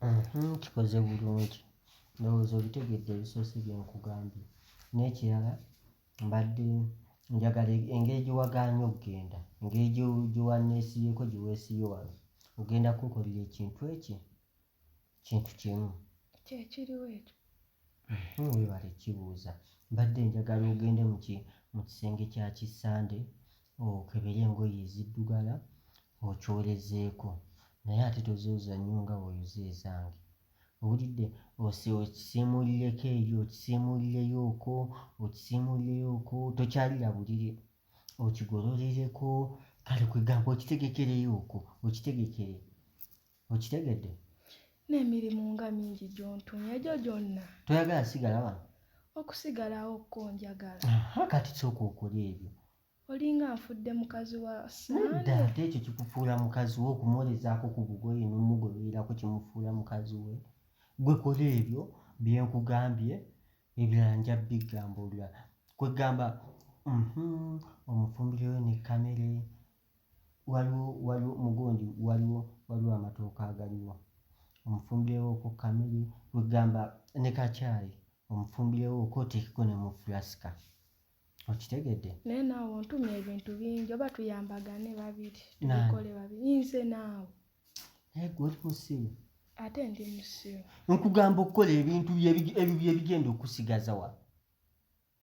Mhm, kikoze bulungi ndowooza obitegedde ebisoose bye nkugambye n'ekirala mbadde njagala e- engeri gye wagaanye okugenda engeri gye- gye wanneesibyeko gye weesibye wano ogenda kunkolera ekintu ekyo kintu kimu kye kiriwo ekyo Uhmm webale kibuuza mbadde njagala ogende muki mukisenge kya ki Sunday okebere engoye eziddugala okyolezeeko naye ate tozooza nnyo nga bwoyoza ezange owulidde ose okisiimuulireko eyo okisiimuulireyo oko okisiimuulireyo oko tokyalira buliri okigololireko kale kwegamba okitegekereyo oko okitegekere okitegedde n'emirimu nga mingi gy'ontumye egyo gyonna toyagala sigala wano okusigalawo kko njagala kati sooka okola ebyo olinga nfudde mukazi wa nedda ate ekyo kikufuula mukazi we okumwolezaako ku bugoye n'omugobererako kimufuula mukazi we gwe kola ebyo bye nkugambye ebirala nja bigamba olulala kwegamba mhm, omufumbireyo ne kamere waliwo waliwo mugonji waliwo waliwo amatooka agaliwo omufumbirewooko kamere wegamba ne kakyayi omufumbirewooko oteekeko ne mu fulasika okitegedde naye naawe ontuma ebintu bingi oba tuyambagane babiri tukole babiri nze naawe naye gwe oli musiru ate ndi musiru nkugamba okukola ebintu ebigenda okusigaza wa